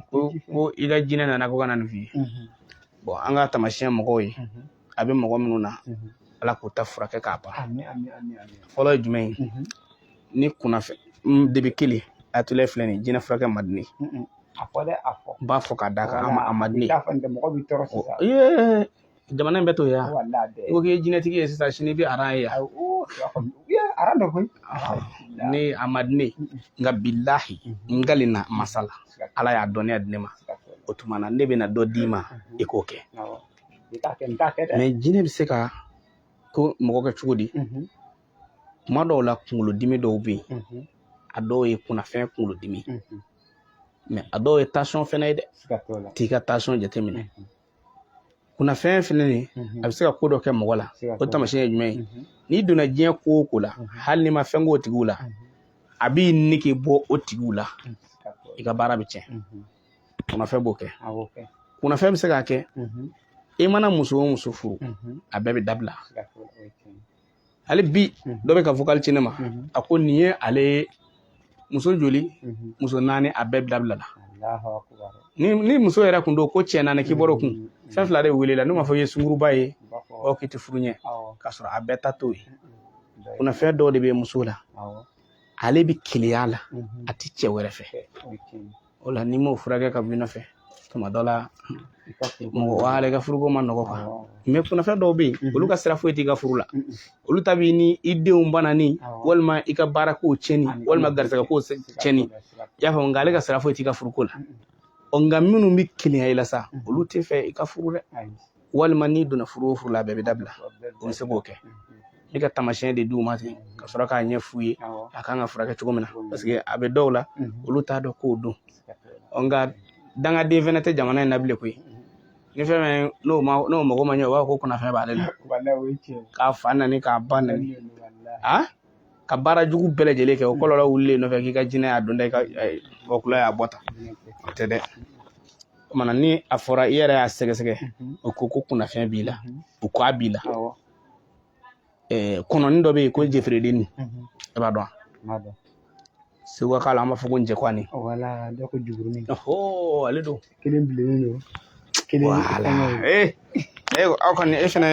ko ko i ka jinɛ nana ko ka na nin f'i ye bon an ka taamasiyɛn mɔgɔw ye a bɛ mɔgɔ minnu na ala k'u ta furakɛ k'a ban fɔlɔ ye jumɛn ye ni kunnafɛn de b'i kelen a tula filɛ nin jinɛ furakɛ man di n ye a fɔ dɛ a fɔ b'a fɔ k'a da kan a man di n ye mɔgɔ bɛ tɔɔrɔ jamana in bɛ to yen yan wala bɛɛ i ko k'i ye jinɛtigi ye sisan sini i bɛ aran ye yan Ayi, oo, i b'a fɔ min? Iya, aran dɔ koyi ni a man di ne ye nka bilahi n kalila masa la ala y'a dɔnniya di ne ma o tuma na ne bɛna dɔ d'i ma i k'o kɛ Awɔ. N t'a kɛ n t'a kɛ dɛ mais jinɛ bɛ se ka ko mɔgɔ kɛ cogo di Mhm, tuma dɔw la kunkolodimi dɔw bɛ yen mhm, a dɔw ye kunnafɛn kunkolodimi mhm. mais a dɔw ye tension fɛnɛ ye dɛ Siga t'o la. t'i ka tension jateminɛ kunnafɛn fɛnɛ ni mhm. a bɛ se ka ko dɔ kɛ mɔgɔ la o tamasiyɛn ye jumɛn ye mhm. n'i donna diɲɛ ko o ko la mhm. hali n'i ma fɛn k'o tigiw la a b'i nege bɔ o tigiw la i ka baara bɛ tiɲɛ kunnafɛn b'o kɛ kunnafɛn bɛ se k'a kɛ i mana muso o muso furu a bɛɛ bɛ dabila hali bi dɔ bɛ ka vocal ci ne ma a ko nin ye ale muso joli muso naani a bɛɛ dabilala ni ni muso yɛrɛ kun don ko cɛ naani k'i bɔra o kun fɛn fila de wele la n'u m'a fɔ i ye sunguruba ye o k'i tɛ furu ɲɛ k'a sɔrɔ a bɛɛ ta t'o ye kunnafɛn dɔw de bɛ muso la ale bɛ keleya la a tɛ cɛ wɛrɛ fɛ o la n'i m'o furakɛ ka bɔ i nɔfɛ tuma dɔ la mɔgɔ wɛrɛ ka furuko man nɔgɔ quoi mais kunnafɛn dɔw bɛ yen olu ka sira foyi t'i ka furu la olu ta b'i ni i denw banani walima i ka baara kow tiɲɛni walima garisɛgɛ kow tiɲɛni i y'a faamu nka ale ka sira foyi t'i ka furuko la ɔ nka minnu bɛ keleya i la sa olu t'a fɛ i ka furu dɛ walima n'i donna furu o furu la a bɛɛ bɛ dabila o bɛ se k'o kɛ ne ka taamasiyɛn de d'u ma ten ka sɔrɔ k'a ɲɛf'u ye a kan ka furakɛ cogo min na parce que a bɛ dɔw la olu t'a dɔn k'o don nka dangaden fɛnɛ tɛ jamana in na bilen koyi ni fɛn fɛn n'o ma n'o mago ma ɲɛ o b'a fɔ ko kunnafɛn b'ale la k'a fa nani k'a ba nani a ka baara jugu bɛɛ lajɛlen kɛ o kɔlɔlɔ wulilen nɔfɛ k'i ka jinɛ y'a don tan i ka wɔkulɔ y'a bɔ tan o tɛ dɛ o tuma na ni a fɔra i yɛrɛ y'a sɛgɛsɛgɛ o ko ko kunnafɛn b'i la o ko a b'i la kɔnɔni dɔ bɛ yen ko jefeeredenni e b'a dɔn wa seguka kan na an b'a fɔ ko njɛkwani ale don kelen bilennen don kelen wala ee e aw kɔni e fɛnɛ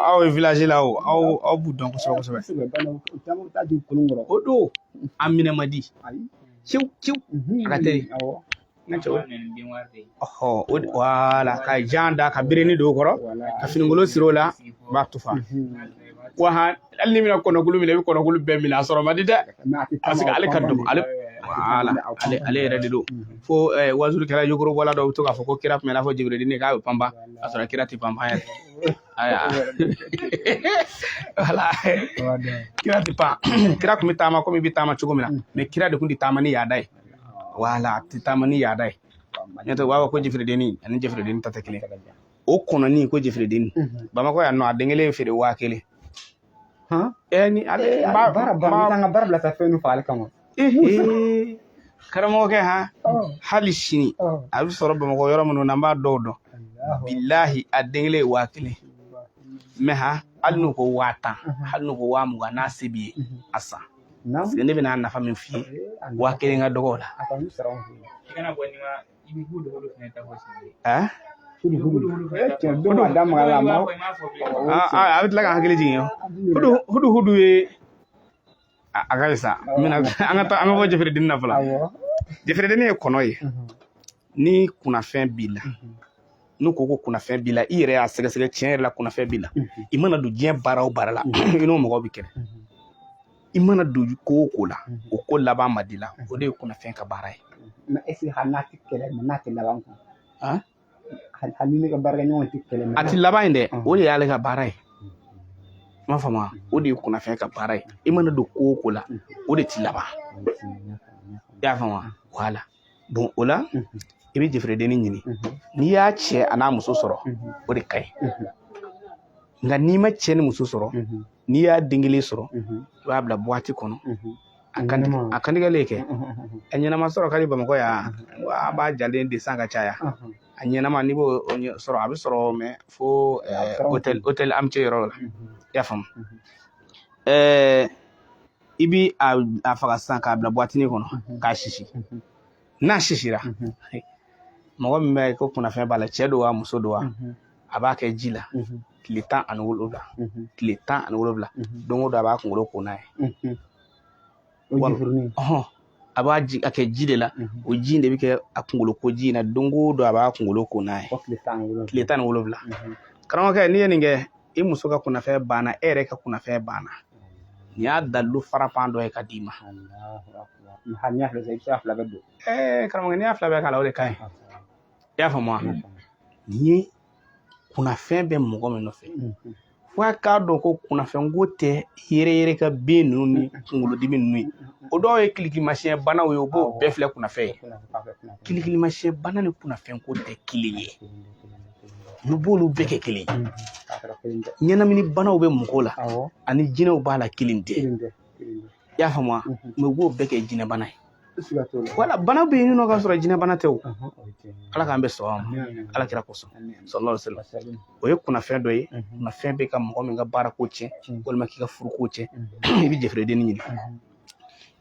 aw ye village la o aw aw b'u dɔn kosɛbɛ kosɛbɛ caman bɛ taa di kolon kɔrɔ o don a minɛ man di ciw ciw a ka teli wala ka jan da ka birinni don o kɔrɔ ka finikolon siri o la b'a tufa wa hali n'i bɛna kɔnɔkulu minɛ i bɛ kɔnɔkulu bɛɛ minɛ a sɔrɔ man di dɛ parce que ale ka dɔgɔ ale wala ale ale yɛrɛ de don fo waajulikɛla yogorobɔla dɔw bɛ to k'a fɔ ko kira tun bɛ i n'a fɔ jɛferedenni k'a bɛ panpan a sɔrɔ kira tɛ panpan yɛrɛ aya wala kira tɛ pan kira tun bɛ taama komi i bɛ taama cogo min na mais kira de tun tɛ taama ni yaada ye wala a tɛ taama ni yaada ye n'o tɛ u b'a fɔ ko jɛferedenni a ni jɛferedenni ta tɛ kelen ye o kɔnɔni ko jɛferedenni bamakɔ yan nɔ a den kelen feere waa kelen ni ale baara baara bila ka fɛn faga ale kama karamɔgɔkɛ ha hali sini a bɛ sɔrɔ bamakɔ yɔrɔ minnu na an b'a dɔw dɔn bilahi a den kelen ye waa kelen mais ha hali n'u ko waa tan hali n'u ko waa mugan n'a se b'i ye a san ne bɛna nafa min f'i ye waa kelen ka dɔgɔ o la Eh? Ah, ah, a bɛ tila ka hakili jigin hudu hudu hudu ye a ka sa an bɛna an ka taa an ka bɔ jɛferedenni na fɔlɔ jɛferedenni ye kɔnɔ ye mhm. ni kunnafɛn b'i la mhm. n'u ko ko kunnafɛn b'i la i yɛrɛ y'a sɛgɛsɛgɛ tiɲɛ yɛrɛ la kunnafɛn b'i la mhm. i mana don diɲɛ baara o baara la i n'o mɔgɔ bɛ kɛlɛ i mana don ko o ko la o ko laban man di i la o de ye kunnafɛn ka baara ye mais est-ce hali n'a tɛ kɛlɛ mais n'a tɛ laban kun Han? hali hali ni ne ka baarakɛɲɔgɔn tɛ kɛlɛ mais a tɛ laban ye dɛ o de y'ale ka baara ye i m'a faamu wa? o de ye kunnafɛn ka baara ye i mana don ko o ko la o de tɛ laban i y'a faamu wa? wala bon o la i bɛ jɛferedenni ɲini n'i y'a cɛ a n'a muso sɔrɔ o de ka ɲi nka n'i ma cɛ ni muso sɔrɔ n'i y'a den kelen sɔrɔ i b'a bila buwati kɔnɔ a kan a kantigɛlen kɛ a ɲɛnama sɔrɔ ka di bamakɔ yan an b'a jalen de san ka caya a ɲɛnama n'i b'o sɔrɔ a bɛ sɔrɔ mais fo hôtel Amitié yɔrɔ la i y'a faamu ɛɛ i bi a faga sisan k'a bila buwatini kɔnɔ k'a sisi n'a sisira mɔgɔ min bɛ ko kunnafɛn b'a la cɛ don wa muso don wa a b'a kɛ ji la tile tan ani wolowula tile tan ani wolowula don o don a b'a kunkolo ko n'a ye a b'a ji a kɛ ji de la mhm. o ji in de bɛ kɛ a kunkolo ko ji in na don o don a b'a kunkolo ko n'a ye tile tan ni wolonwula mhm. karamɔgɔkɛ n'i ye nin kɛ i muso ka kunnafɛn banna e yɛrɛ ka kunnafɛn banna nin y'a dalilu farankan dɔ ye ka d'i ma n'i y'a fila bɛɛ i bɛ se ka fila bɛɛ don ɛɛ karamɔgɔkɛ n'i y'a fila bɛɛ k'a la o de ka ɲi i y'a faamu wa nin ye kunnafɛn bɛ mɔgɔ min nɔfɛ f'a k'a dɔn ko kunnafɛnko tɛ yɛrɛyɛrɛ ka bin ninnu ni kunkolodimi ninnu ye o dɔw ye kilikilimasiyɛn banaw ye u b'o bɛɛ filɛ kunnafɛn ye kilikilimasiyɛn bana ni kunnafɛnko tɛ kelen ye olu b'olu bɛɛ kɛ kelen ye ɲɛnamini banaw bɛ mɔgɔ la ani jinɛw b'a la kelen tɛ i y'a faamu wa mɛ u b'o bɛɛ kɛ jinɛbana ye wala bana bɛ yen nɔ k'a sɔrɔ jinɛbana tɛ o ala k'an bɛɛ sɔn a ma ala kira kosɔn sallallahu alaihi wasallam o ye kunnafɛn dɔ ye kunnafɛn bɛ ka mɔgɔ min ka baara ko tiɲɛ walima k'i ka furu ko tiɲɛ i bɛ jɛfɛrɛden ɲini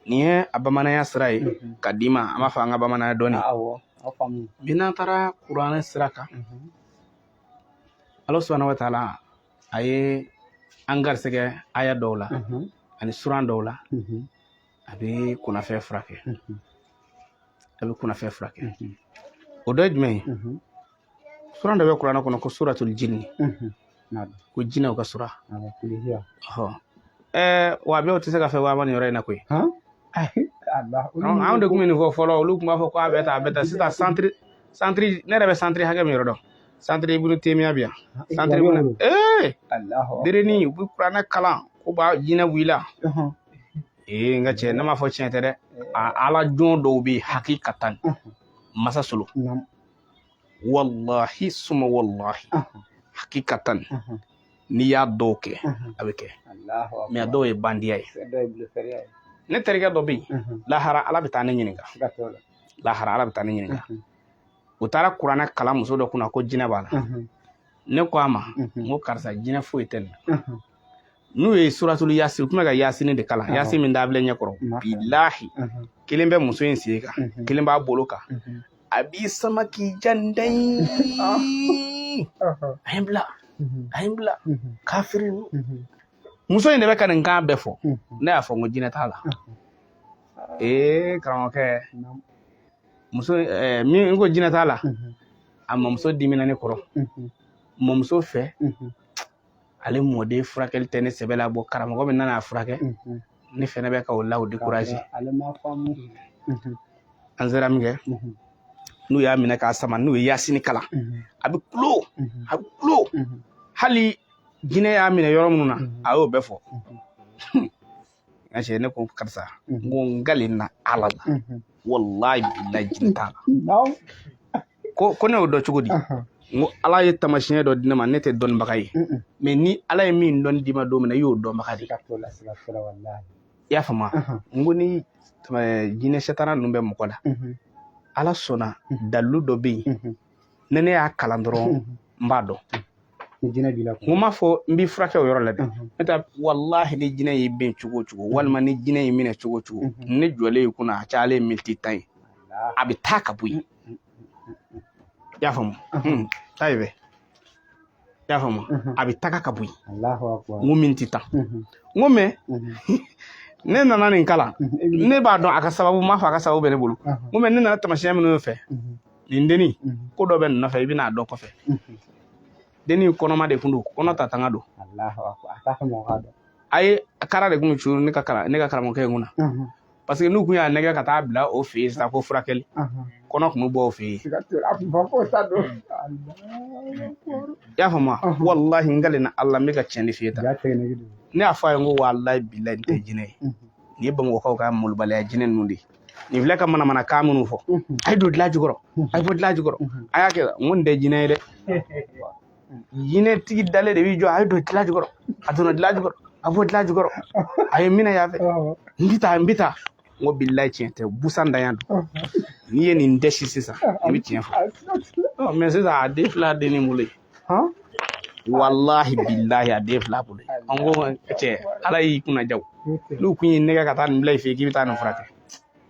nin ye a bamananya sira ye ka d'i ma an b'a fɔ an ka bamananya dɔɔni mɛ n'an taara kuranɛ sira kan ala subhanahu wa taala a ye an garisɛgɛ aya dɔw la ani suran dɔw la a bɛ a fu a bɛ kunnafɛn furakɛ o dɔ ye jumɛn ye suran dɔ bɛ kuranɛ kɔnɔ ko suratul jinni ko jinɛw ka sura wa bi o tɛ se ka fɛ waaba nin yɔrɔ in na koyi anw de tun bɛ nin fɔ fɔlɔ olu tun b'a fɔ ko a bɛ taa a bɛ taa sisan santiri santiri ne yɛrɛ bɛ santiri hakɛ min yɔrɔ dɔn santiri ibunu temiya bɛ yan santiri ibunu ee derenin u bɛ kuranɛ kalan ko b'a jinɛ wulila ee n ka cɛ ne m'a fɔ tiɲɛ tɛ dɛ ala jɔn dɔw bɛ yen hakikatan masa solo walahi suma walahi hakikatan n'i y'a dɔw kɛ a bɛ kɛ mɛ a dɔw ye bandiya ye ne terikɛ dɔ bɛ yen lahara ala bɛ taa ne ɲininka lahara ala bɛ taa ne ɲininka u taara kuranɛ kalan muso dɔ kunna ko jinɛ b'a la ne ko a ma n ko karisa jinɛ foyi tɛ nin na n'u ye suratulu yasin u tun bɛ ka yasini de kalan yasin min dabile n ɲɛ kɔrɔ bilahi kelen bɛ muso in sen kan kelen b'a bolo kan a b'i sama k'i ja tan a ye n bila a ye n bila kafiri muso in de bɛ ka nin kan bɛɛ fɔ ne y'a fɔ n ko jinɛ t'a la ee karamɔgɔkɛ muso min n ko jinɛ t'a la a mamuso dimina ne kɔrɔ mamuso fɛ ale mɔden furakɛli tɛ ne sɛbɛ la bɔn karamɔgɔ min nana a furakɛ ne fɛnɛ bɛ ka o la o dekuraze an sera min kɛ n'u y'a minɛ k'a sama n'u ye yasini kalan a bɛ kulo a bɛ kulo hali jinɛ y'a minɛ yɔrɔ minnu na a y'o bɛɛ fɔ n ka cɛ ne ko karisa n ko n kalila ala la wallahi billahi jinɛ t'a la ko ne y'o dɔn cogo di n ko ala ye tamasiyɛn dɔ di ne ma ne tɛ dɔnnibaga ye mɛ ni ala ye min dɔn d'i ma don min na i y'o dɔnbaga de ye i y'a faamu n ko ni jinɛ sɛtana ninnu bɛ mɔgɔ la ala sɔnna dalilu dɔ bɛ yen ni ne y'a kalan dɔrɔn n b'a dɔn ni jinɛ b'i la n m'a fɔ n b'i furakɛ o yɔrɔ la dɛ ne ta walahi ni jinɛ y'i bin cogo o cogo walima ni jinɛ y'i minɛ cogo o cogo ne jɔlen y'i kunna a cayalen miniti tan ye a bɛ taa ka bɔ yen i y'a faamu taa ye bɛ i y'a faamu a bɛ taga ka bɔ yen n ko miniti tan n ko mɛ ne nana nin kalan ne b'a dɔn a ka sababu m'a fɔ a ka sababu bɛ ne bolo n ko mɛ ne nana tamasiyɛn minnu fɛ nin denni ko dɔ bɛ nin nɔfɛ i bɛna a dɔn kɔfɛ denni kɔnɔma de kun don kɔnɔ ta tanga don ayi kara de kun bɛ curu ne ka karamɔgɔkɛ in kunna paseke n'u kun y'a nɛgɛ ka taa bila o fɛ yen sisan ko furakɛli kɔnɔ kun bɛ bɔ o fɛ yen i y'a faamu walahi n kalen na ala n bɛ ka tiɲɛ de f'i ye tan ne y'a fɔ a ye n ko walahi bilahi nin tɛ jinɛ ye nin ye bamakɔkaw ka malobaliya jinɛ ninnu de ye nin filɛ ka manamanakan minnu fɔ a ye don dilan jukɔrɔ a ye bɔ dilan jukɔrɔ a y'a kɛ n ko nin tɛ jinɛ ye dɛ jinɛtigi dalen de b'i jɔ a ye don dilan jukɔrɔ a donna dilan jukɔrɔ a bɔ dilan jukɔrɔ a ye minɛ yan fɛ n bɛ taa n bɛ taa n ko bilahi tiɲɛ tɛ busan danya don n'i ye nin dɛsi sisan i bɛ tiɲɛ fɔ mɛ sisan a den filɛ denni bolo ye walahi bilahi a den filɛ a bolo ye n ko cɛ ala y'i kunna diya n'u kun y'i nɛgɛ ka taa nin bila i fɛ yen k'i bɛ taa nin furakɛ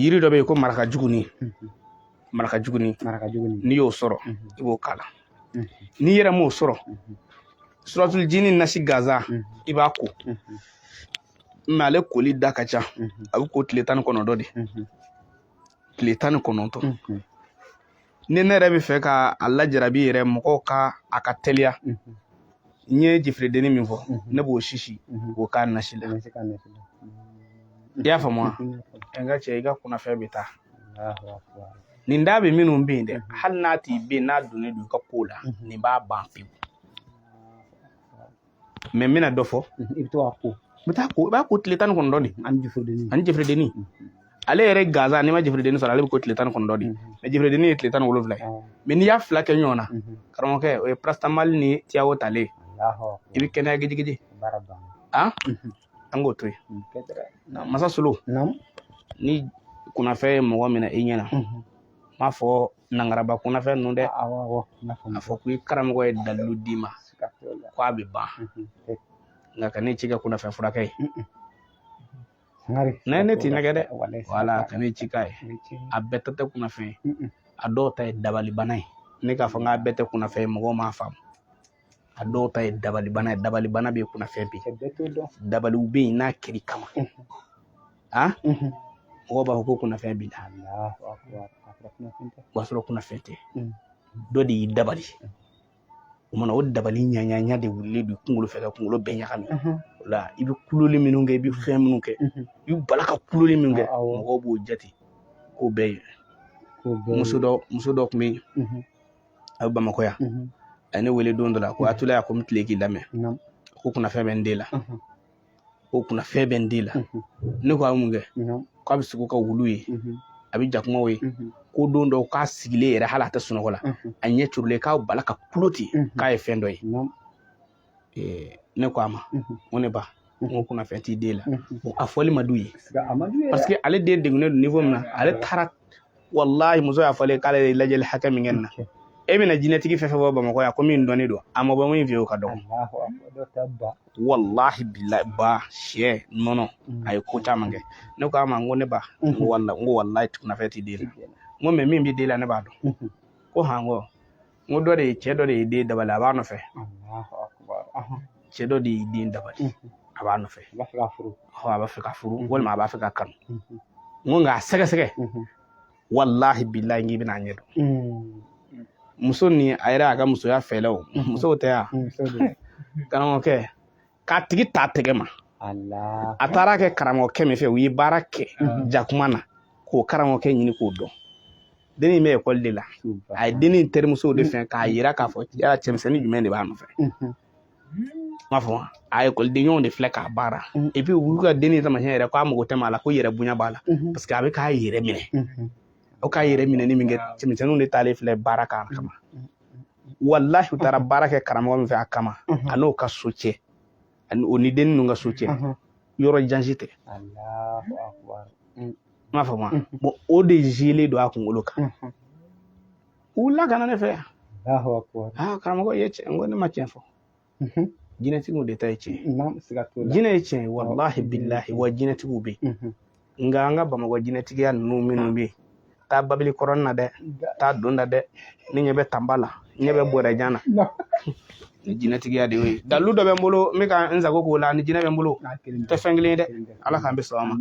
yiri dɔ bɛ yen ko maraka jugunin maraka jugunin n'i y'o sɔrɔ i b'o k'a la n'i yɛrɛ m'o sɔrɔ suratul jini nasi gansan i b'a ko mɛ ale koli da ka ca a bɛ ko tile tan ni kɔnɔntɔn de tile tan ni kɔnɔntɔn ni ne yɛrɛ b'a fɛ ka a lajarabi yɛrɛ mɔgɔ kan a ka teliya n ye jifiridenni min fɔ ne b'o sisi k'o k'a nasi la i y'a faamu wa n ka cɛ i ka kunnafɛn bɛ taa nin da bɛ minnu bɛ yen dɛ hali n'a t'i bɛ yen n'a donnen don i ka ko la nin b'a ban pewu mɛ n bɛna dɔ fɔ mhm, i bɛ to ka ko n bɛ taa ko i b'a ko tile tan ni kɔnɔntɔn de ani jifiridenni ani jifiridenni mhm. ale yɛrɛ gansan n'i ma jifiridenni sɔrɔ ale bɛ ko tile tan ni kɔnɔntɔn de mhm. mɛ jifiridenni ye tile tan ni wolonwula ye mɛ n'i y'a fila kɛ ɲɔgɔn na karamɔgɔkɛ o ye paracetamol ni tiyawo talen i bɛ kɛnɛya gijigiji an an k'o to yen masa solo ni kunnafɛn ye mɔgɔ minɛ i ɲɛ na n m'a fɔ nangaraba kunnafɛn ninnu dɛ a fɔ ko i karamɔgɔ ye dalilu d'i ma ko a bɛ ban nka ka ne ci kɛ kunnafɛn furakɛ ye ne ne t'i nɛgɛ dɛ wala ka ne ci k'a ye a bɛɛ ta tɛ kunnafɛn ye a dɔw ta ye dabalibana ye ne k'a fɔ n k'a bɛɛ tɛ kunnafɛn ye mɔgɔw m'a faamu a dɔw ta ye dabalibana ye dabalibana bɛ kunnafɛn bɛ dabaliw bɛ yen n'a kɛr'i kama a mɔgɔw b'a fɔ ko kunnafɛn b'i la o b'a sɔrɔ kunnafɛn tɛ dɔ de y'i dabali o mana o dabali ɲaɲaɲa de wulilen don kunkolo fɛ ka kunkolo bɛɛ ɲagami o la i bɛ kuloli minnu kɛ i bɛ fɛn minnu kɛ i bɛ bala ka kuloli minnu kɛ mɔgɔw b'o jate k'o bɛɛ ye muso dɔ tun bɛ yen a bɛ bamakɔ yan a ye ne wele don dɔ la ko atulaya ko n tile k'i lamɛn ko kunnafɛn bɛ n den la ko kunnafɛn bɛ n den la ne ko a mun kɛ k'a bɛ sugo ka wuluw ye a bɛ jakumaw ye ko don dɔw k'a sigilen yɛrɛ hali a tɛ sunɔgɔ la a ɲɛ turulen k'a bala ka kulo ten k'a ye fɛn dɔ ye ne ko a ma ko ne ba n ko kunnafɛn t'i den la a fɔli ma d'u ye parce que ale den degunnen don niveau min na ale taara walahi muso y'a fɔlen k'ale ye lajɛli hakɛ min kɛ nin na e bɛna jinɛtigi fɛn fɛn bɔ bamakɔ yan ko min dɔnnen don a ma bɔ min fɛ yen o ka dɔgɔ walahi bilahi ba sin nɔnɔ a ye ko caman kɛ ne ko a ma n ko ne ba n ko walahi kunnafɛn t'i den la n ko mais min b'i den la ne b'a dɔn ko han ko n ko dɔ de ye cɛ dɔ de y'i den dabali a b'a nɔfɛ cɛ dɔ de y'i den dabali a b'a nɔfɛ a b'a fɛ k'a furu walima a b'a fɛ k'a kanu n ko nka a sɛgɛsɛgɛ walahi bilahi n k'i bɛna a ɲɛ dɔn muso ni a yɛrɛ a ka musoya fɛɛlɛw musow tɛ yan karamɔgɔkɛ k'a tigi ta tɛgɛ ma a taara kɛ karamɔgɔkɛ min fɛ u ye baara kɛ jakuma na k'o karamɔgɔkɛ ɲini k'o dɔn den in bɛ ekɔli de la a ye den in terimusow de fɛ k'a yira k'a fɔ yala cɛmisɛnnin jumɛn de b'a nɔfɛ m'a fɔ a ekɔlidenɲɔgɔnw de filɛ k'a baara epi olu ka den in tamasiyɛn yɛrɛ k'a mago tɛ maa la ko yɛrɛ bonya b'a la paseke a bɛ k'a yɛrɛ minɛ o k'a yɛrɛ minɛni min kɛ cɛmisɛnninw de taalen filɛ baara k'a kama walahi u taara mhm. baara kɛ karamɔgɔ min fɛ a kama mhm. a n'o ka so cɛ o ni dennin ninnu ka so cɛ mhm. yɔrɔ jan si tɛ n m'a faamu bɔn o de cilen don a kunkolo kan u wulila ka na ne fɛ yan karamɔgɔ i ye tiɲɛ n ko ne ma tiɲɛ fɔ jinɛtigiw de ta ye tiɲɛ ye jinɛ ye tiɲɛ ye walahi bilahi wa jinɛtigiw bɛ yen nka an ka bamakɔ jinɛtigiya ninnu minnu bɛ yen taa babili kɔrɔnin na dɛ taa don da dɛ ne ɲɛ bɛ tanba la ɲɛ bɛ bɔrɛjan na ni jinɛtigiya de y'o ye dalilu dɔ bɛ n bolo n bɛ ka n sago k'o la ni jinɛ bɛ n bolo tɛ fɛn kelen ye dɛ ala k'an bɛ sɔn a ma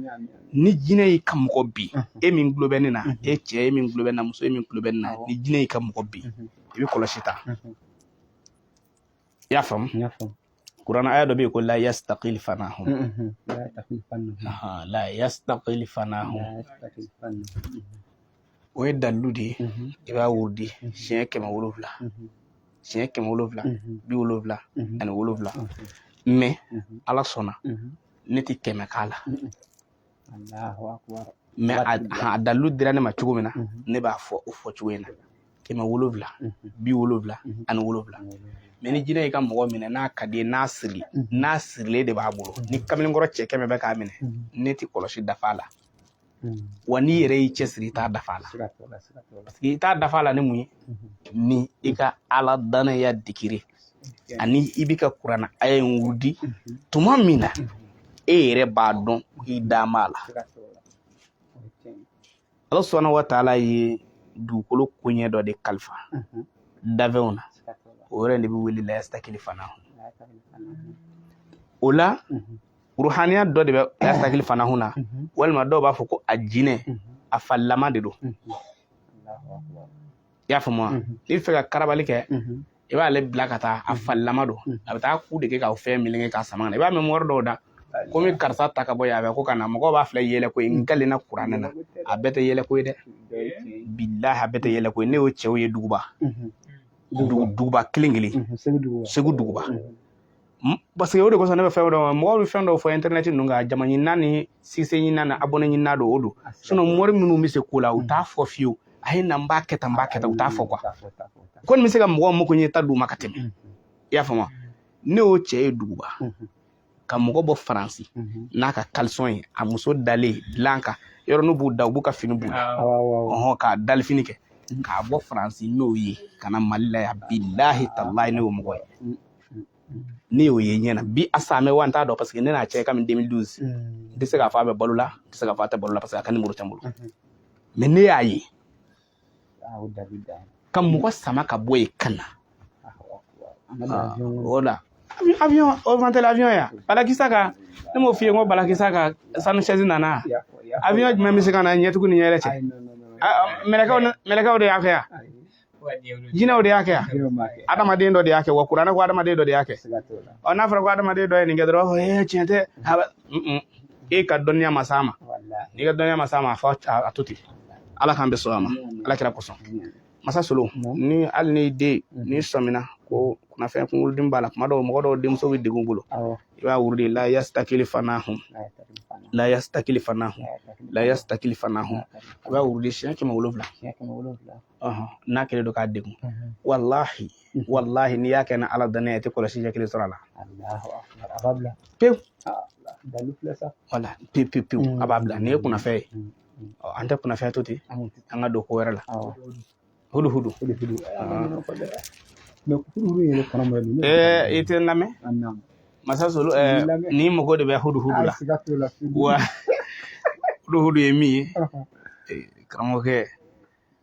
ni jinɛ y'i ka mɔgɔ bin e min tulo bɛ ne na e cɛ e min tulo bɛ n na muso e min tulo bɛ ne na ni jinɛ y'i ka mɔgɔ bin i bɛ kɔlɔsi ta i y'a faamu kuranna aya dɔ bɛ yen ko la yastaqil fanahum la yastaqil fanahum o ye dalilu de ye i b'a wurudi siɲɛ kɛmɛ wolonwula siɲɛ kɛmɛ wolonwula bi wolonwula ani wolonwula mɛ ala sɔnna ne tɛ kɛmɛ k'a la mɛ a dalilu dira ne ma cogo min na mhm. ne b'a fɔ o fɔ cogo in na kɛmɛ wolowula mhm. bi wolowula mhm. ani wolowula mɛ ni jinɛ y'i ka mɔgɔ minɛ n'a ka di i ye n'a sirili n'a sirilen de b'a bolo ni kamalenkɔrɔ cɛ kɛmɛ bɛ k'a minɛ ne tɛ kɔlɔsi dafa la wa n'i yɛrɛ y'i cɛsiri i t'a dafa la parce que i t'a dafa la ni mun ye ni i ka ala dannaya dikiri ani i bɛ ka kuranna aya in wurudi tuma min na e yɛrɛ b'a dɔn k'i dalen b'a la ala subhanahu wa taala ye dugukolo koɲɛ dɔ de kalifa dafɛnw na o yɛrɛ de bɛ wele la yastakili fanahu o la ruhaniya dɔ de bɛ la yastakili fanahu na walima dɔw b'a fɔ ko a jinɛ a falilama de don i y'a faamu wa n'i b'a fɛ ka karabali kɛ i b'ale bila ka taa a falilama don a bɛ taa ku de kɛ ka fɛn meleke k'a sama ka na i b'a mɛn mɔgɔ dɔw da komi karisa ta ka bɔ yan a bɛ ko ka na mɔgɔw b'a filɛ yɛlɛko ye n kalen na kuranɛ na a bɛɛ tɛ yɛlɛko ye dɛ bilahi a bɛɛ tɛ yɛlɛko ye ne y'o cɛw ye duguba duguba kelen kelen segu duguba parce que o de kosɔn ne bɛ fɛn dɔ mɔgɔw bɛ fɛn dɔw fɔ internet ninnu kan jama ɲinina ni succès ɲinina ni abonné ɲinina don o don sinon mori minnu bɛ se ko la u t'a fɔ fiyewu a ye na n b'a kɛ tan n b'a kɛ tan u t'a fɔ quoi ko nin bɛ se ka mɔgɔw mako ɲɛ ta d'u ma ka tɛmɛ i y'a faamu ne y'o cɛ ye duguba ka mɔgɔ bɔ faransi n'a ka kalisɔn ye a muso dalen dilan kan yɔrɔ n'u b'u da u b'u ka fini b'u la ɔhɔn k'a dalifini kɛ k'a bɔ faransi n'o ye ka na mali la yan bilahi talahi ne y'o mɔgɔ ye ne y'o ye ɲɛ na bi a salen bɛ wa n t'a dɔn paseke ne n'a cɛ kamini 2012 n tɛ se k'a fɔ a bɛ balo la n tɛ se k'a fɔ a tɛ balo la parce que a ka nimoro tɛ n bolo mɛ ne y'a ye ka mɔgɔ sama ka bɔ yen ka na o la avion o man teli avion ya balakisa ka ne m'o f'i ye n ko balakisa ka sanu sɛzi nana avion jumɛn bɛ se ka na ɲɛtugu ni ɲɛyɛlɛ cɛ mɛlɛkɛw de y'a kɛ yan jinɛw de y'a kɛ adamaden dɔ de y'a kɛ wa kuranɛ ko adamaden dɔ de y'a kɛ ɔ n'a fɔra ko adamaden dɔ ye nin kɛ dɔrɔn ee tiɲɛ tɛ e ka dɔnniya ma s'a ma n'i ka dɔnniya ma s'a ma a fɔ a to ten ala k'an bɛɛ sɔn a ma ala kira kosɔn masa solo ni hali ni den ni sɔmina ko kunnafɛn kunkolodimi b'a la kuma dɔw mɔgɔ dɔw denmuso bɛ degun bolo i b'a wurudi la yasitakili fanahun la yasitakili fanahun la yasitakili fanahun i b'a wurudi siɲɛ kɛmɛ wolonwula n'a kɛlen don k'a degun walahi walahi n'i y'a kɛ ni ala danaya i tɛ kɔlɔsi ɲɛ kelen sɔrɔ a la pewu wala pewu pewu pewu a b'a bila nin ye kunnafɛn ye an tɛ kunnafɛn to ten an ka don ko wɛrɛ la hudu hudu i tɛ n lamɛn masa solo ne mago de bɛ hudu hudu la wa hudu hudu ye min ye karamɔgɔkɛ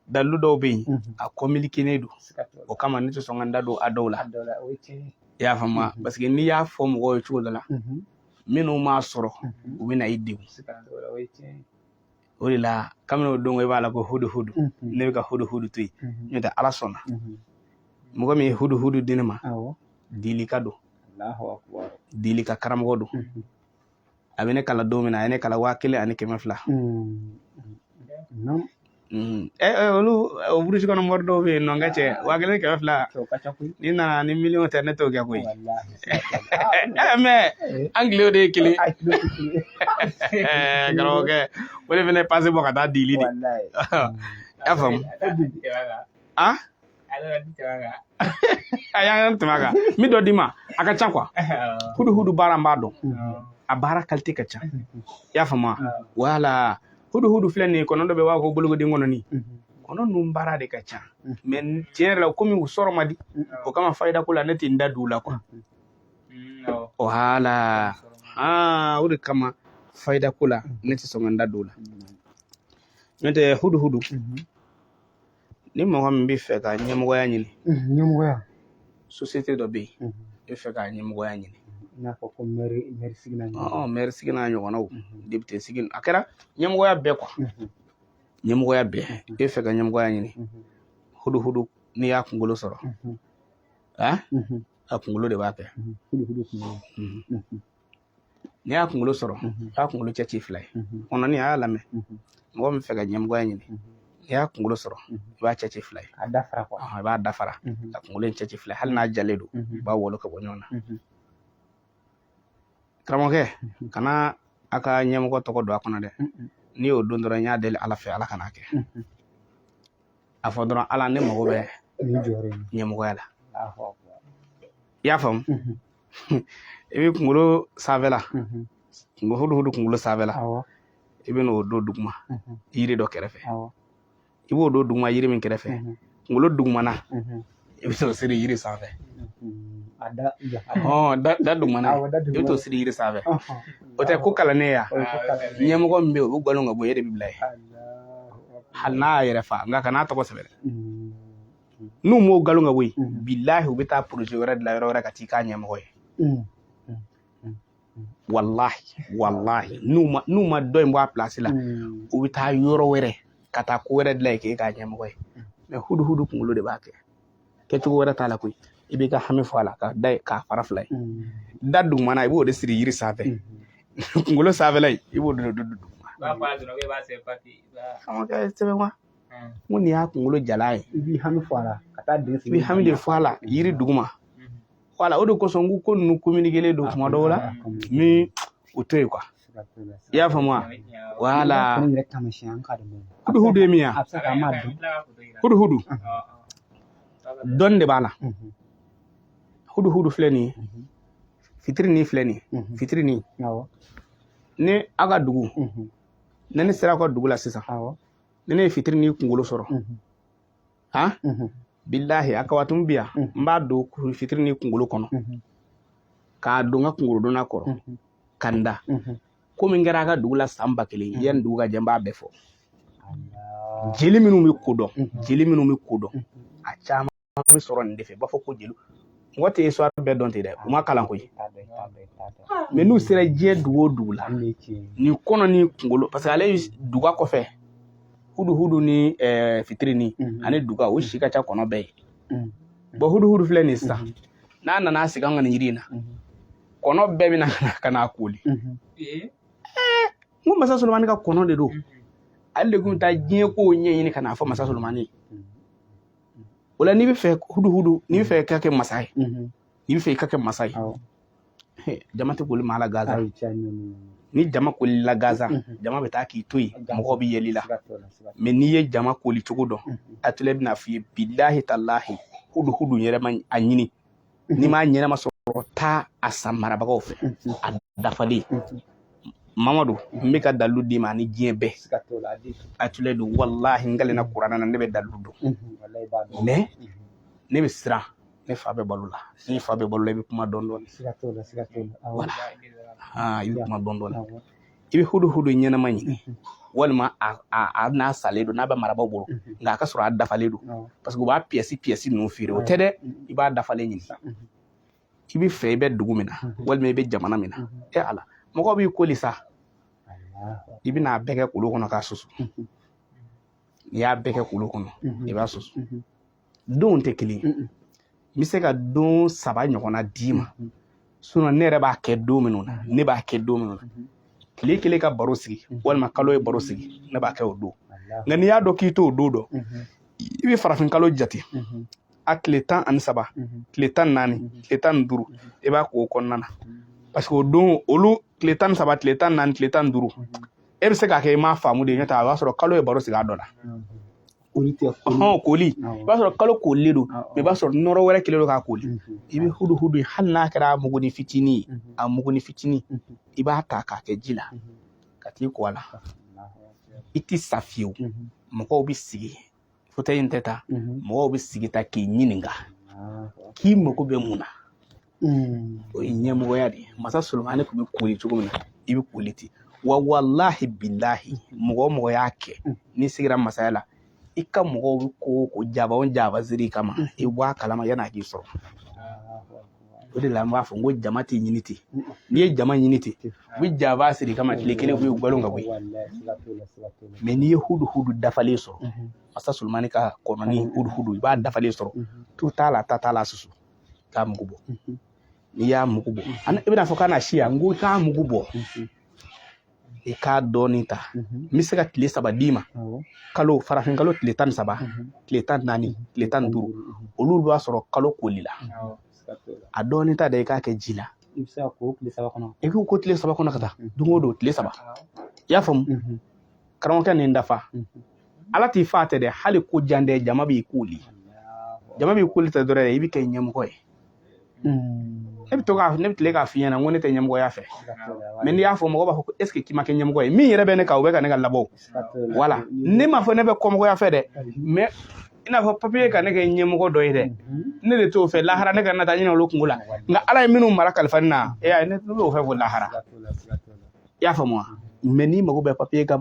dalilu dɔw bɛ yen mhm. a kɔnpilikenen don o kama ne tɛ sɔn ka n da don a dɔw la i y'a faamu mhm. parce que n'i y'a fɔ mɔgɔw ye cogo dɔ la mhm. minnu m'a sɔrɔ u bɛ na i degun o de la kabini o don i b'a la ko hudu hudu ne bɛ ka hudu hudu to yen n'o tɛ ala sɔnna mɔgɔ min ye hudu hudu di ne ma dilika don dilika karamɔgɔ don a bɛ ne kalan don min na a ye ne kalan waa kelen ani kɛmɛ fila olu burusi kɔnɔ mɔri dɔw bɛ yen nɔ n ka cɛ waa kelen kɛmɛ fila n'i nana ni miliyɔn tɛ ne t'o kɛ koyi mɛ an kile de ye kelen karamɔgɔkɛ o de fana pase bɔ ka taa dili dɛ i y'a faamu a a y'an tɛmɛ a kan min dɔ d'i ma a ka ca kuwa huduhudu baara n b'a dɔn a baara kalite ka ca i y'a faamu wala huduhudu filɛ nin ye kɔnɔ dɔ bɛ b'a ko bolokoden kɔnɔni kɔnɔ ninnu baara de ka ca mɛ tiɲɛ yɛrɛ la komi u sɔrɔ man di o kama fayida ko la ne tɛ n da don u la kuwa wala o de kama fayida ko la ne tɛ sɔn ka n da don o la n'o tɛ huduhudu Ni mɔgɔ min bɛ fɛ ka ɲɛmɔgɔya ɲini ɲɛmɔgɔya sosiyete dɔ bɛ yen e fɛ ka ɲɛmɔgɔya ɲini i n'a fɔ ko mɛri sigi n'a ɲɔgɔnnaw depite sigi a kɛra ɲɛmɔgɔya bɛɛ kuwa ɲɛmɔgɔya bɛɛ e fɛ ka ɲɛmɔgɔya ɲini huduhudu n'i y'a kunkolo sɔrɔ a a kunkolo de b'a kɛ n'i y'a kunkolo sɔrɔ i b'a kunkolo cɛ ci fila ye kɔnɔni a y'a lamɛn mɔgɔ min fɛ ka ɲɛmɔgɔya ɲini n'i y'a kunkolo sɔrɔ i b'a cɛ ci fila ye a dafara kuwa i b'a dafara ka kunkolo in cɛ ci fila ye hali n'a jalen don i b'a wolo ka bɔ ɲɔgɔn na karamɔgɔkɛ kana a ka ɲɛmɔgɔ tɔgɔ don a kɔnɔ dɛ n'i y'o don dɔrɔn n y'a deli ala fɛ ala kan'a kɛ a fɔ dɔrɔn ala ne mago bɛ ɲɛmɔgɔya la i y'a faamu i bɛ kunkolo sanfɛla huduhudu kunkolo sanfɛla i bɛ n'o don duguma yiri dɔ kɛrɛfɛ i b'o don duguma yiri min kɛrɛfɛ kunkolo dugumana i bɛ t'o siri yiri sanfɛ da dugumana i bɛ t'o siri yiri sanfɛ o tɛ ko kalannen ya ɲɛmɔgɔ min bɛ yen o bɛ galon ka bɔ e de bɛ bila yen hali n'a y'a yɛrɛ fa nka kan'a tɔgɔ sɛbɛn n'u m'o galon ka bɔ yen bilahi u bɛ taa poroze wɛrɛ dilan yɔrɔ wɛrɛ ka t'i k'a ɲɛmɔgɔ ye walahi walahi n'u ma n'u ma dɔ in bɔ a pilasi la u bɛ taa yɔrɔ wɛrɛ ka taa ko wɛrɛ dilan yen k'e k'a ɲɛmɔgɔ ye mɛ huduhudu kunkolo de b'a kɛ kɛcogo wɛrɛ t'a la koyi i b'i ka hami fɔ a la k'a da k'a fara fila ye da dugumana i b'o de siri yiri sanfɛ kunkolo sanfɛla in i b'o de don duguma sɛbɛn wa n ko nin y'a kunkolo jala ye i b'i hami fɔ a la ka taa den i b'i hami de fɔ a la yiri duguma wala o de kosɔn ko ko ninnu communiquer don tuma dɔw la min u to yen quoi i y'a faamu wa wala huduhudu ye min ye huduhudu dɔnni de b'a la huduhudu filɛ nin ye fitirinin filɛ nin ye fitirinin ni aw ka dugu ni ne sera aw ka dugu la sisan ni ne ye fitirinin kunkolo sɔrɔ han bilahi a kawatun bɛ yan n b'a don fitirinin kunkolo kɔnɔ k'a don n ka kunkolodonna kɔrɔ ka n da ko min kɛra a ka dugu la san ba kelen yanni dugu ka jɛ n b'a bɛɛ fɔ jeli minnu bɛ ko dɔn jeli minnu bɛ ko dɔn a caman bɛ sɔrɔ nin de fɛ b'a fɔ ko jeliw mɔgɔ tɛ histoire bɛɛ dɔn ten dɛ u ma kalan koyi mɛ n'u sera diɲɛ dugu o dugu la nin kɔnɔnin kunkolo parce que ale duga kɔfɛ huduhudu ni eh, fitirinin mhm. ani duga u si ka ca kɔnɔ bɛɛ ye mhm. bɔn huduhudu filɛ nin sisan mhm. n'a nana sigi an ka nin yiri in na kɔnɔ bɛɛ bɛna ka n'a koli eh, n ko masa solomani ka kɔnɔ de don ale de tun bɛ taa diɲɛ kow ɲɛɲini ka n'a fɔ masa solomani ye o la n'i bɛ fɛ huduhudu n'i bɛ fɛ ka kɛ masa ye n'i bɛ fɛ i ka kɛ masa ye jama tɛ koli maa la gansan ni jama kolila gansan jama bɛ taa k'i to yen mɔgɔw bɛ yɛl'i la mɛ n'i ye jama koli cogo dɔn a tile bɛna f'i ye bilahi talahi huduhudu yɛrɛ ma a ɲini n'i m'a ɲɛnama sɔrɔ taa a san marabagaw fɛ a dafalen mamadu n bɛ ka dalilu d'i ma ani diɲɛ bɛɛ a tule don walahi n kalenna kurana na ne bɛ dalilu dɔn mɛ ne bɛ siran ne fa bɛ balo la n'i fa bɛ balo la i bɛ kuma dɔɔni dɔɔni wala i bɛ kuma dɔɔni dɔɔni i bɛ huduhudu ɲɛnama ɲini walima a n'a salen don n'a bɛ marabaaw bolo nka a ka sɔrɔ a dafalen don parce que u b'a piyɛsi piyɛsi ninnu feere o tɛ dɛ i b'a dafalen ɲini i bɛ fɛ i bɛ dugu min na walima i bɛ jamana min na e ala mɔgɔ b'i koli sa i bɛna a bɛɛ kɛ kolon kɔnɔ k'a susu n'i y'a bɛɛ kɛ kolon kɔnɔ i b'a susu donw tɛ kelen ye n bɛ se ka don saba ɲɔgɔnna d'i ma sinon ne yɛrɛ b'a kɛ don minnu na ne b'a kɛ don minnu na tile kelen ka baro sigi walima kalo ye baro sigi ne b'a kɛ o don nka n'i y'a dɔn k'i t'o don dɔn i bɛ farafin kalo jate a tile tan ani saba tile tan ni naani tile tan ni duuru i b'a k'o kɔnɔna na parce que o don olu tile tan ni saba tile tan ni naani tile tan ni duuru e bɛ se k'a kɛ i m'a faamu de nɔntɛ a b'a sɔrɔ kalo ye baro sigi a dɔ la koli tɛ hɔn koli i b'a sɔrɔ kalo kolilen don mais i b'a sɔrɔ nɔrɔ wɛrɛ kelen don k'a koli i bɛ hudu hudu ye hali n'a kɛra muguni fitinin ye a muguni fitinin i b'a ta k'a kɛ ji la ka t'i ko a la i ti sa fiyewu mɔgɔw bɛ sigi fotɛyi in tɛ ta mɔgɔw bɛ sigi ta k'i ɲininka k'i mago bɛ mun na o ye ɲɛmɔgɔya de ye masa solomani tun bɛ koli cogo min na i bɛ koli ten wa walahi bilahi mɔgɔ mɔgɔ y'a kɛ n'i sigira masaya la i ka mɔgɔw bɛ ko ko janfa o janfa siri i kama i bɔ a kalama yann'a k'i sɔrɔ o de la n b'a fɔ n ko jama tɛ ɲini ten n'i ye jama ɲini ten u bɛ janfa siri i kama tile kelen u ye balon ka bɔ yen mais n'i ye hudu hudu dafalen sɔrɔ masa solomani ka kɔnɔni hudu hudu i b'a dafalen sɔrɔ tu t'a la ta t'a la susu k'a mugu bɔ n'i y'a mugu bɔ i bɛna a fɔ k'a na si yan n ko i k'a mugu bɔ i k'a dɔɔnin ta n bɛ se ka tile saba d'i ma kalo farafin kalo tile tan ni saba tile tan ni naani tile tan ni duuru olu b'a sɔrɔ kalo kolila a dɔɔnin ta da i k'a kɛ ji la i bɛ se ka ko tile saba kɔnɔ i k'o ko tile saba kɔnɔ ka taa don o don tile saba i y'a faamu karamɔgɔkɛ nin dafa ala t'i faa tɛ dɛ hali ko jan dɛ jama b'i koli jama b'i koli tɛ dɔrɔn i bɛ kɛ ɲɛmɔgɔ ye ne bɛ to ka ne bɛ tile k'a f'i ɲɛna n ko ne tɛ ɲɛmɔgɔya fɛ mais n'i y'a fɔ mɔgɔ b'a fɔ ko est ce que k'i ma kɛ ɲɛmɔgɔ ye min yɛrɛ bɛ ne kan o bɛ ka ne ka labɔ voilà ne m'a fɔ ne bɛ kɔmɔgɔya fɛ dɛ mais i n'a fɔ papiye ka ne kɛ ɲɛmɔgɔ dɔ ye dɛ ne de t'o fɛ lahara ne kana taa ɲinɛ olu kunko la nka ala ye minnu mara kalifa ne na e y'a ye ne b'o fɛ ko lahara i y'a faamu wa mais n'i mago bɛ papiye ka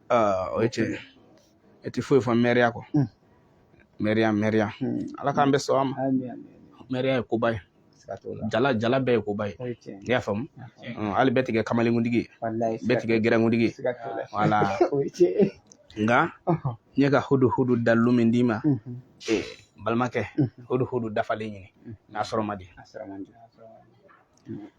o ye tiɲɛ e tɛ foyi fɔ mɛriya kɔ mɛriya mɛriya ala k'an bɛɛ sɔn a ma mɛriya ye koba ye jala jala bɛɛ ye koba ye i y'a faamu hali bɛɛ tɛ kɛ kamalenkuntigi ye bɛɛ tɛ kɛ gɛrɛnkuntigi ye voilà nka n ye ka hudu hudu dalilu min d'i ma balimakɛ hudu hudu dafalen ɲini n'a sɔrɔ man di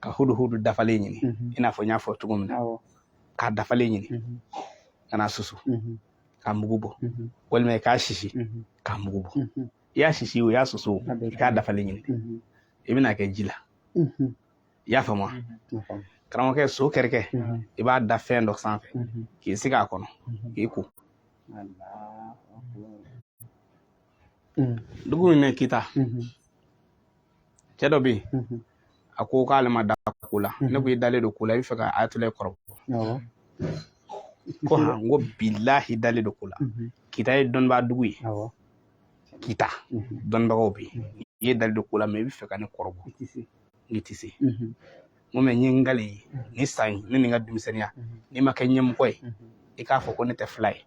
ka huduhudu dafalen ɲini i n'a fɔ n y'a fɔ cogo min na k'a dafalen ɲini ka n'a susu k'a mugu bɔ walima i k'a sisi k'a mugu bɔ i y'a sisi o i y'a susu i k'a dafalen ɲini i bɛn'a kɛ ji la i y'a faamu wa karamɔgɔkɛ so kɛrɛkɛ i b'a da fɛn dɔ sanfɛ k'i sigi a kɔnɔ k'i ko dugu min bɛ kita cɛ dɔ bɛ yen mhm. a ko k'ale ma da ko la ne ko i dalen don ko la i bɛ fɛ ka ayatollah kɔrɔbɔ ko han n ko bilahi dalen don ko la kita ye dɔnnibaa dugu ye kita dɔnnibagaw bɛ yen i dalen don ko la mɛ i bɛ fɛ ka ne kɔrɔbɔ nk'i tɛ se n ko mɛ n ye n gale ye ni san ye ne ni n ka denmisɛnninya n'i ma kɛ ɲɛmɔgɔ ye i k'a fɔ ko ne tɛ fila ye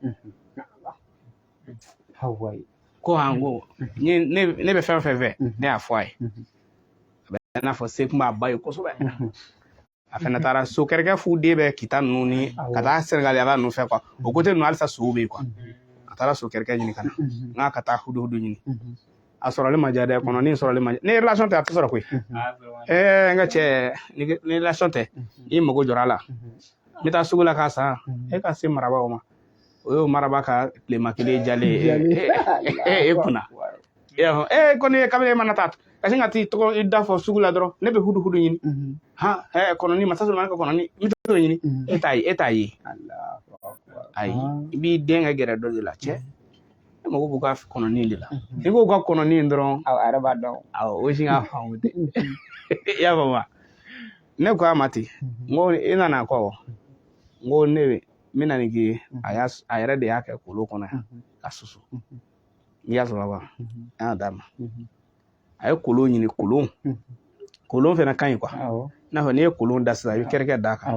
a ko han ko ne bɛ fɛn o fɛn fɛ ne y'a fɔ a ye a bɛ i n'a fɔ se kun b'a ba ye kosɛbɛ a fana taara so kɛrɛkɛ fu de bɛ kita ninnu ni ka taa sɛnɛgaliyaba ninnu fɛ kuwa o kote ninnu halisa sow bɛ yen kuwa a taara so kɛrɛkɛ ɲini ka na n k'a ka taa huduhudu ɲini a sɔrɔli ma diya dɛ kɔnɔni sɔrɔli ma diya ni relation tɛ a tɛ sɔrɔ koyi ɛɛ n ka cɛ ni relation tɛ i mago jɔra a la n bɛ taa sugu la k'a san e ka se marabaw ma o y'o maraba ka tilema kelen jalen e kunna e y'a fɔ e kɔni ye kabini e mana taa ka sin ka t'i tɔgɔ i da fɔ sugu la dɔrɔn ne bɛ huduhudu ɲini han ɛ kɔnɔni masa solomani ka kɔnɔni n bɛ t'o ɲini e t'a ye e t'a ye ayi i b'i den ka gɛrɛ dɔ de la cɛ ne mago b'u ka kɔnɔni de la n'i ko ka kɔnɔni dɔrɔn awɔ a yɛrɛ b'a dɔn awɔ o si ka faamu tɛ i y'a faamu wa ne ko a ma ten n ko i nana kɔ n ko ne bɛ n bɛna nin k'i ye a y'a a yɛrɛ de y'a kɛ kolon kɔnɔ yan k'a susu i y'a sɔrɔ wa an y'a d'a ma a ye kolon ɲini kolon kolon fɛnɛ ka ɲi kuwa i n'a fɔ n'i ye kolon da sisan i bɛ kɛrɛkɛ d'a kan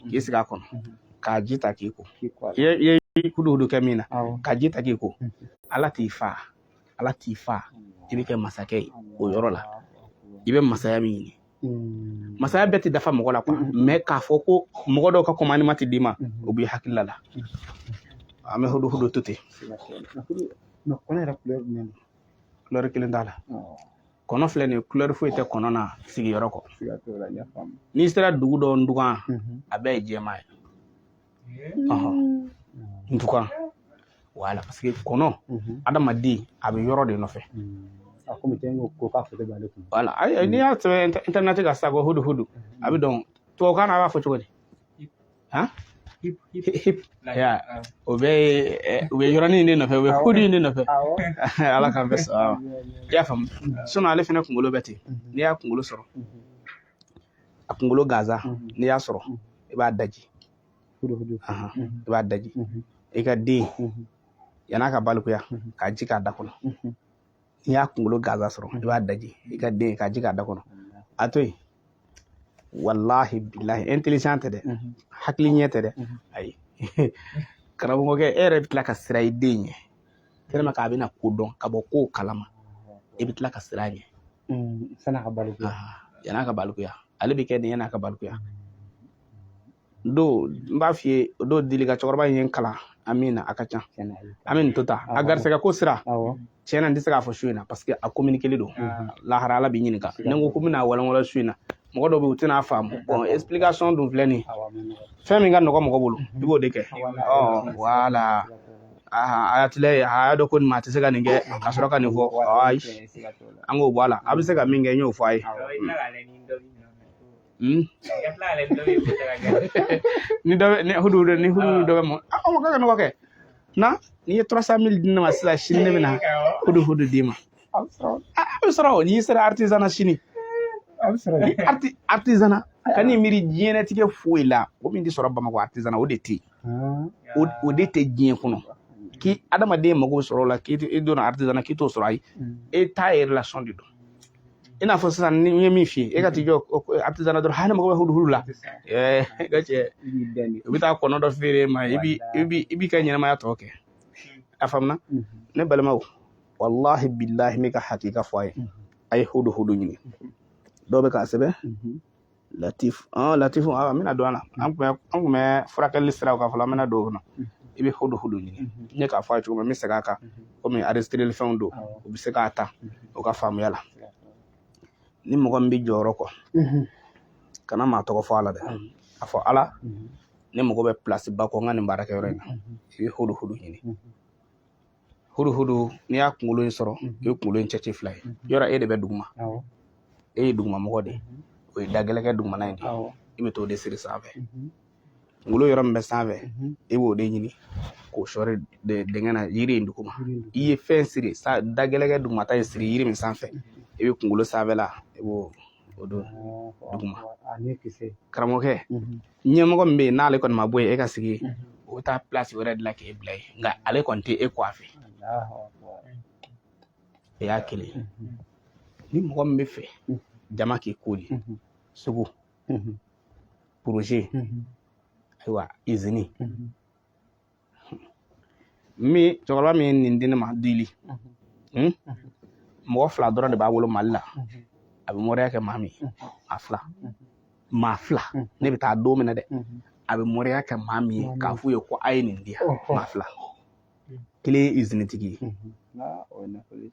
k'i sigi a kɔnɔ k'a ji ta k'i ko i ye huduhudu kɛ min na k'a ji ta k'i ko ala t'i fa ala t'i fa i bɛ kɛ masakɛ ye o yɔrɔ la i bɛ masaya min ɲini Mm. masaya bɛɛ tɛ dafa mɔgɔ la kuwa mm-hmm. mɛ k'a fɔ ko mɔgɔ dɔw ka kɔmandiman tɛ d'i ma mm-hmm. o b'i hakilila la mm-hmm. an bɛ huduhudu to ten kulɛri kelen t'a la oh. kɔnɔ filɛ nin ye kulɛri foyi tɛ kɔnɔ na sigiyɔrɔ kɔ n'i sera dugu dɔ ndugan a bɛɛ ye jɛman ye en tout cas voilà parce que kɔnɔ adamaden a bɛ yɔrɔ de nɔfɛ a komi tɛ n ko ko k'a foto b'ale kun voilà ayi n'i y'a sɛbɛn internet kan sisan ko hudu hudu a bɛ dɔn tubabukan na a b'a fɔ cogo di han huppe huppe ya o bɛ u bɛ yɔrɔnin de nɔfɛ u bɛ hudu in de nɔfɛ ala k'an bɛɛ sɔn i y'a faamu sinon ale fana kunkolo bɛ ten n'i y'a kunkolo sɔrɔ a kunkolo gansan n'i y'a sɔrɔ i b'a daji i b'a daji i ka den yan'a ka balikuya k'a ji k'a da kɔnɔ n'i y'a kunkolo gansan sɔrɔ i b'a daji i ka den k'a ji k'a da kɔnɔ a to yen wallahi billahi intelligent tɛ dɛ hakili ɲɛ tɛ dɛ ayi karamɔgɔkɛ e yɛrɛ bɛ tila ka siran i den ɲɛ tellement que a bɛna ko dɔn ka bɔ kow kalama i bɛ tila ka siran a ɲɛ Mm, san'a ka balikuya yan'a ka balikuya ale bɛ kɛ nin yan'a ka balikuya do n b'a f'i ye do dili ka cɛkɔrɔba in ye n kalan an min na a ka ca an bɛ nin to ta a garisɛgɛ ko sira tiɲɛna n tɛ se k'a fɔ su in na parce que a communiquer don lahara ala b'i ɲininka ni n ko ko n bɛn'a walanwalan su in na mɔgɔ dɔw bɛ yen u tɛn'a faamu bon explication dun filɛ nin fɛn min ka nɔgɔ mɔgɔ bolo i b'o de kɛ ɔ voilà ayatila ye a y'a dɔn ko nin maa tɛ se ka nin kɛ ka sɔrɔ ka nin fɔ ayi an k'o bɔ a la a bɛ se ka min kɛ n y'o fɔ a ye ni dɔ ni hudu ni hudu dɔ bɛ mɔ a ko ka nɔgɔ kɛ na n'i ye 300 mille di ne ma sisan sini ne bɛ na hudu hudu d'i ma a bɛ sɔrɔ a bɛ sɔrɔ o n'i sera artisanat sini a bɛ sɔrɔ ni arti artisanat ka n'i miiri diɲɛlatigɛ foyi la o min tɛ sɔrɔ bamakɔ artisanat o de tɛ yen o o de tɛ diɲɛ kɔnɔ k'i adamaden mago sɔrɔ o la k'i tɛ- i donna artisanat k'i t'o sɔrɔ ayi e t'a ye relation de don i n'a fɔ sisan ni n ye min f'i ye e ka t'i jɔ o- o- artisanat dɔrɔn ne mago bɛ hudu hudu la ɛɛ i ka cɛ i b'i dɛn de u bɛ taa kɔnɔ dɔ feere e ma i bi i bi i b'i ka ɲɛnamaya tɔ kɛ a faamuna ne balimaw wallahi billahi n bɛ ka hakika fɔ a ye a ye hudu hudu ɲini dɔw bɛ k'a sɛbɛn latif ɔn latif a n bɛna don a la an tun bɛ an tun bɛ furakɛli siraw kan fɔlɔ an bɛna don o kɔnɔ i bɛ hudu hudu ɲini n ye k'a fɔ a ye cogo min n bɛ segin a kan komi enregistreli fɛnw don u bɛ se k'a ta o ka faamuya la ni mɔgɔ min bɛ jɔyɔrɔ kɔ kana maa tɔgɔ fɔ a la dɛ a fɔ ala ne mago bɛ place ba kɔ n ka nin baarakɛyɔrɔ in na i bɛ hudu hudu ɲini hudu hudu n'i y'a kunkolo in sɔrɔ i ye kunkolo in cɛci fila ye yɔrɔ e de bɛ duguma e ye dugumamɔgɔ de ye o ye dagɛlɛkɛ dugumana in de i bɛ t'o de siri sanfɛ kunkolo yɔrɔ min bɛ sanfɛ i b'o de ɲini k'o sɔri dingɛ na yiri in duguma i ye fɛn siri dagɛlɛkɛ dugumata in siri yiri min sanfɛ i bɛ kunkolo sanfɛla i b'o o don duguma karamɔgɔkɛ ɲɛmɔgɔ min bɛ yen n'ale kɔni ma bɔ yen e ka sigi o bɛ taa pilasi wɛrɛ de la k'e bila yen nka ale kɔni tɛ e kɔ a fɛ o y'a kelen ni mɔgɔ min bɛ fɛ jama k'i koli sugu poroze ayiwa izini min cɛkɔrɔba min ye nin di ne ma dili mɔgɔ fila dɔrɔn de b'a bolo mali la a bɛ mɔriya kɛ maa min a fila maa fila ne bɛ taa don min na dɛ a bɛ mɔriya kɛ maa min ye k'a f'u ye ko a ye nin di yan maa fila kelen ye izinitigi ye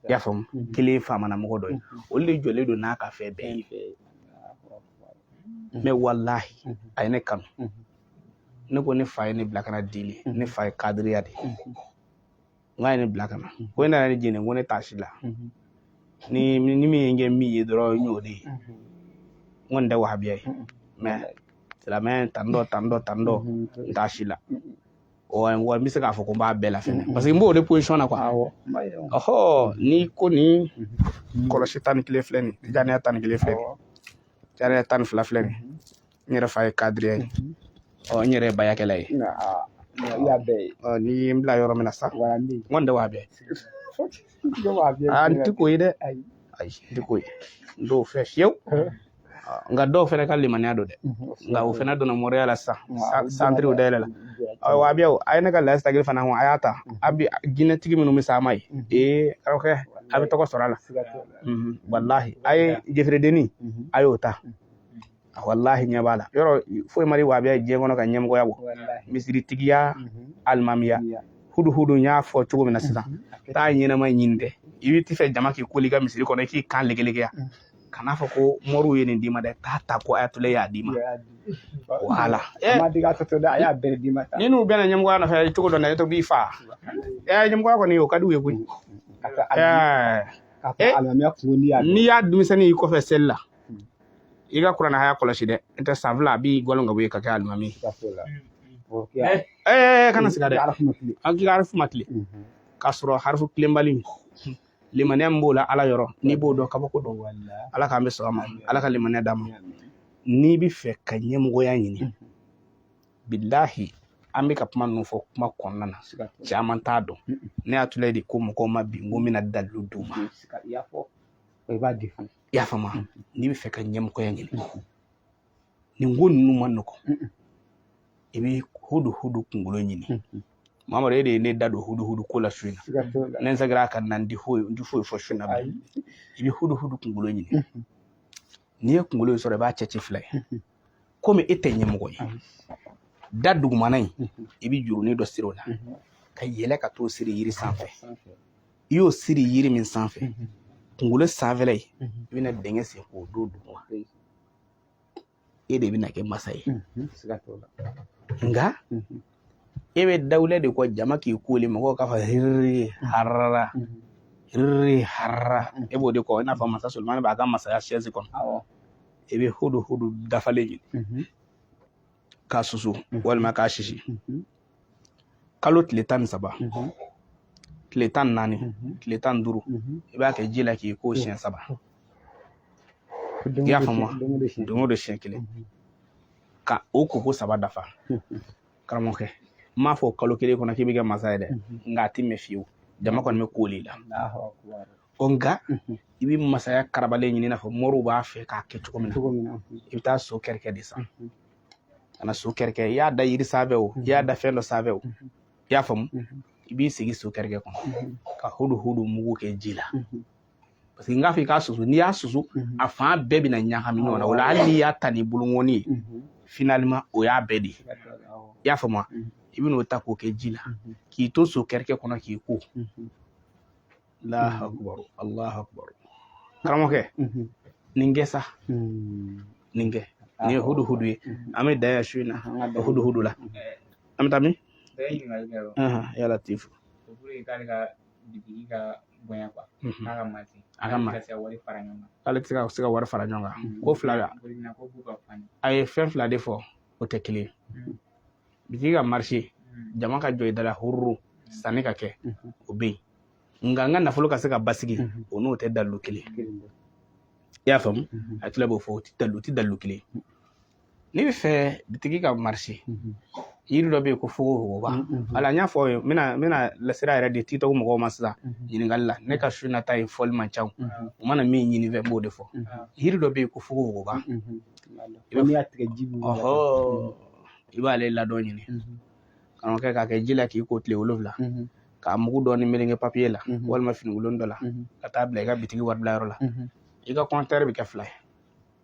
i y'a faamu kelen ye faamana mɔgɔ dɔ ye olu de jɔlen don n'a ka fɛn bɛɛ ye mɛ walahi a ye ne kanu ne ko ne fa ye ne bila ka na deli ne fa ye kadiriya de ye n k'a ye ne bila ka na ko e nana ne jeni ko ne t'a si la ni ni min ye n kɛ min ye dɔrɔn n y'o de ye n kɔni tɛ wahabiya ye mɛ silamɛ tan dɔ tan dɔ tan dɔ n t'a si la wa n bɛ se k'a fɔ ko n b'a bɛɛ la fɛnɛ parce que n b'o de position na quoi ɔhɔ ni ko ni kɔlɔsi tan ni kelen filɛ nin ye tijaniya tan ni kelen filɛ nin ye tijaniya tan ni fila filɛ nin ye n yɛrɛ fa ye kadiri ye ɔ n yɛrɛ ye bayakɛla ye ni ye n bila yɔrɔ min na sa n kɔni tɛ wahabiya ye n tɛ k'o ye dɛ ayi n tɛ k'o ye n t'o fɛ fiyewu nka dɔw fana ka limaniya don dɛ nka o fana donna mɔriya la sisan santiriw dayɛlɛla wahabiya a ye ne ka layi sagili fana a y'a ta a bɛ jinɛtigi minnu bɛ sa ma ye ee karamɔgɔkɛ a bɛ tɔgɔ sɔrɔ a la walahi a ye jefiridenni a y'o ta a wallahi ɲɛ b'a la yɔrɔ foyi ma di wahabiya ye diɲɛ kɔnɔ ka ɲɛmɔgɔya bɔ misiritigiya mhm. alimamiya huduhudu n y'a fɔ cogo min na sisan mhm. taa ɲɛnama ɲini dɛ i bɛ t'i fɛ jama k'i koli ka misiri kɔnɔ i k'i kan legelegeya mhm. kana fɔ ko mɔriw ye nin d'i ma dɛ taa ta ko ayatule y'a d'i ma wala eh. ni n'u bɛnna ɲɛmɔgɔya nɔfɛ cogo dɔ la i to b'i fa eh, ɲɛmɔgɔya kɔni o ka d'u ye koyi eh. n'i y'a denmisɛnnin y'i kɔfɛ seli la i ka kuranɛ aya kɔlɔsi dɛ n tɛ san fila a b'i gɔlɔn ka bɔ yen ka kɛ alimami ɛɛ kana siga dɛ an k'i ka harifu ma tilen k'a sɔrɔ harifu tilenbali limaniya min b'o la ala yɔrɔ n'i b'o dɔn kabako don ala k'an bɛɛ sɔn a ma ala ka limaniya d'an ma n'i bɛ fɛ ka ɲɛmɔgɔya ɲini bilahi an bɛ ka kuma ninnu fɔ kuma kɔnɔna na caman t'a dɔn ne y'a tula de ko mɔgɔw ma bi n ko n bɛna dalilu d'u ma i b'a di fana i y'a faamu mm-hmm. n'i bɛ fɛ ka ɲɛmɔgɔya ɲini mm-hmm. nin ko ninnu man nɔgɔn mm-hmm. i bɛ hudu hudu kunkolo ɲini mamadu e de ye ne da don hudu hudu ko la su in na ne segira ka na n ti foyi fɔ su in na i bɛ hudu hudu kunkolo ɲini n'i ye kunkolo in sɔrɔ i b'a cɛ ci fila ye komi e tɛ ɲɛmɔgɔ ye da dugumana in i bɛ jurunin dɔ siri o la ka yɛlɛ ka t'o siri yiri sanfɛ i y'o siri yiri min sanfɛ kunkolo sanfɛla ye i bɛna dingɛ sen k'o don duguma e de bɛna kɛ masa ye nka e bɛ dawula de kɔ jama k'i koli mɔgɔw k'a fɔ hiriri harara hiriri harara e b'o de kɔ i n'a fɔ masa solomani b'a ka masaya sɛzi kɔnɔ i bɛ hudu hudu dafalen ɲini k'a susu walima k'a sisi kalo tile tan ni saba tile tan naani tile tan duuru i b'a kɛ ji la k'i ko siɲɛ saba i y'a faamu don o don siɲɛ kelen ka o koko saba dafa karamɔgɔkɛ n m'a fɔ kalo kelen kɔnɔ k'i bɛ kɛ masa ye dɛ nka a tɛ mɛn fiyewu jama kɔni bɛ koli la ɔ nka i bɛ masaya karabalen ɲini i n'a fɔ moriw b'a fɛ k'a kɛ cogo min na i bɛ taa so kɛrɛkɛ de san ka na so kɛrɛkɛ i y'a da yiri sanfɛ o i y'a da fɛn dɔ sanfɛ o i y'a faamu i b'i sigi so kɛrɛkɛ kɔnɔ ka hudu hudu mugu kɛ ji la parce que n k'a fɔ i k'a susu n'i y'a susu mhm. a fan bɛɛ bɛna ɲagami ɲɔgɔn na o la hali n'i y'a ta ni bolonkɔni ye mhm. finalement o y'a bɛɛ de ye i y'a faamu mhm. i bɛna o ta k'o kɛ ji la k'i to so kɛrɛkɛ kɔnɔ k'i ko alahu akubar alahu akubar karamɔgɔkɛ nin kɛ sa nin kɛ nin ye huduhudu ye an bɛ dan yan su in na huduhudu la an bɛ taa min ya latifu bitigi ka bonya kuwa n'a ka mati a ka mati ka wari fara ɲɔgɔn kan k'ale tɛ se ka wari fara ɲɔgɔn kan ko fila a ye fɛn fila de fɔ o tɛ kelen bitigi ka marché jama ka jɔ i da la hururu sanni ka kɛ o bɛ yen nka n ka nafolo ka se ka basigi o n'o tɛ dalilu kelen i y'a faamu a tila b'o fɔ o tɛ dalilu kelen N'i bɛ fɛ bitigi ka marché yiri dɔ bɛ yen ko fogofogoba wala n y'a fɔ aw ye n bɛna n bɛna lasira yɛrɛ de tiktok mɔgɔw ma sisan ɲininkali la ne ka su nata ye fɔli man ca u mana min ɲini n fɛ n b'o de fɔ yiri dɔ bɛ yen ko fogofogoba i b'a tigɛ ji b'o i b'ale ladɔn ɲini karamɔgɔkɛ k'a kɛ ji la k'i ko tile wolonwula k'a mugu dɔɔni meleke papiye la walima finikolon dɔ la ka taa bila i ka bitigi wari bila yɔrɔ la i ka kɔntɛri bɛ kɛ fila ye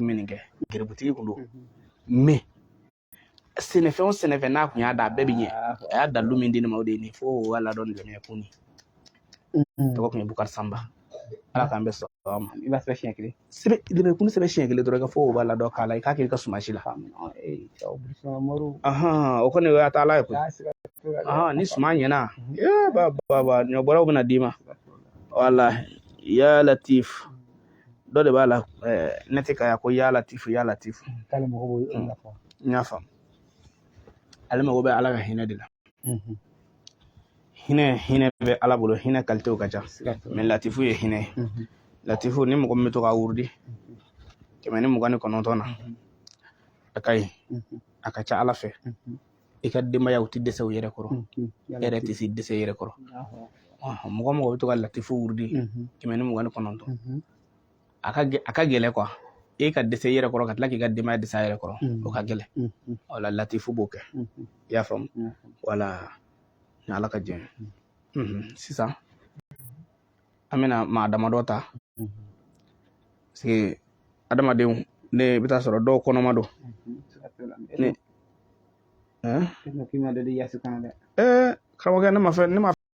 minnu kɛ gerebutigi kun don mais sɛnɛfɛn o sɛnɛfɛn n'a kun y'a dan a bɛɛ bɛ ɲɛ a y'a dalilu min di ne ma o de ye nin fo o y'a ladɔn dɛmɛ kun ni tɔgɔ tun ye bukari sanba ala k'an bɛ sɔrɔ ma i b'a sɛbɛn siɲɛ kelen sɛbɛ dɛmɛ kun sɛbɛn siɲɛ kelen dɔrɔn ka fɔ o b'a ladɔn k'a la i k'a kɛ i ka suman si la o kɔni o y'a ta ala ye koyi ni suman ɲɛna ba ba ɲɔbɔlaw bɛna d'i ma wala ya latif dɔ de b'a la ne tɛ ka ko ya latifu ya latifu k'ale mago b'o de la n y'a faamu ale mago bɛ ala ka hinɛ de la hinɛ hinɛ bɛ ala bolo hinɛ kalitew ka ca mais latifu ye hinɛ ye latifu ni mɔgɔ min bɛ to k'a wurudi kɛmɛ ni mugan ni kɔnɔntɔn na a ka ɲi a ka ca ala fɛ i ka denbayaw ti dɛsɛ u yɛrɛ kɔrɔ e yɛrɛ tɛ se dɛsɛ i yɛrɛ kɔrɔ mɔgɔ mɔgɔ bɛ to ka latifu wurudi kɛmɛ ni mugan ni kɔnɔntɔn a ka a ka gɛlɛ quoi e ka dɛsɛ i yɛrɛ kɔrɔ ka tila k'i ka denbaya dɛsɛ a yɛrɛ kɔrɔ o ka gɛlɛ wala latifu b'o kɛ i y'a faamu wala ni ala ka jɛn sisan an bɛna maa damadɔ ta parce que adamadenw ne bɛ taa sɔrɔ dɔw kɔnɔma don ne karamɔgɔkɛ ne ma fɛn ne ma